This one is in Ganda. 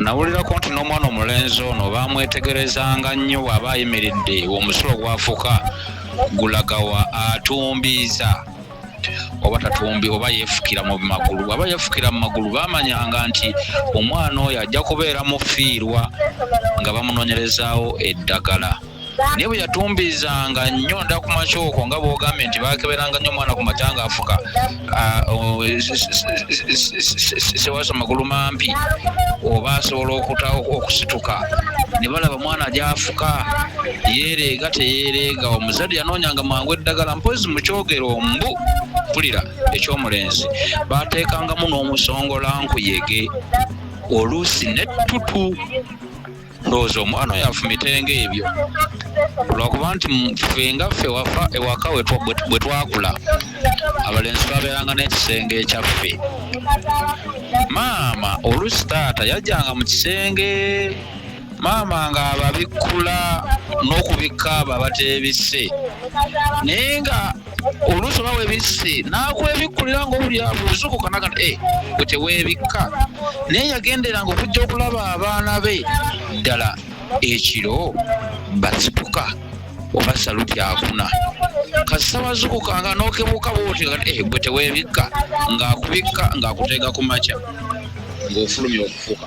nawulirako nti n'omwana omulenzi ono baamwetegerezanga nnyo bw'aba ayimiridde omusulo gwafuka gulagawa atumbiiza oba tatumbi oba yeefukira mu magulu bwaba yeefukira mu magulu baamanyanga nti omwana oyo ajja kubeera mufiirwa nga bamunoonyerezaawo eddagala naye bwe yatumbizanga nnyo nda ku makyoko nga bwogambye nti bakeberanga nnyo omwana ku mata nga afuka ah, oh, sewaso magulu mampi oba asobola okuta okusituka ne balaba mwana gyafuka yeereega teyeereega omuzadde yanoonyanga mangu eddagala mpozi mu kyogero mbu mpulira ekyomulenzi baateekangamu n'omusongola nkuyege oluusi nettutu ndowooza omwana oyo afumitenge ebyo lwakuba nti ffe nga ffe wafa ewaka bwe twakula abalenzi twabeeranga n'ekisenge ekyaffe maama olusi taata yajjanga mu kisenge maama nga ababikkula n'okubikka abo abateebise naye nga oluusi oba webisse n'akwebikkulira ng'obuli abuuzukuka naga e eh, gwe teweebikka naye yagenderanga okujja okulaba abaana be ddala ekiro basipuka oba saluti akuna kasita wazukuka nga nokebuka bwoti eh, gwe teweebikka ng'akubikka ng'akuteega ku makya ng'ofulumya okufuka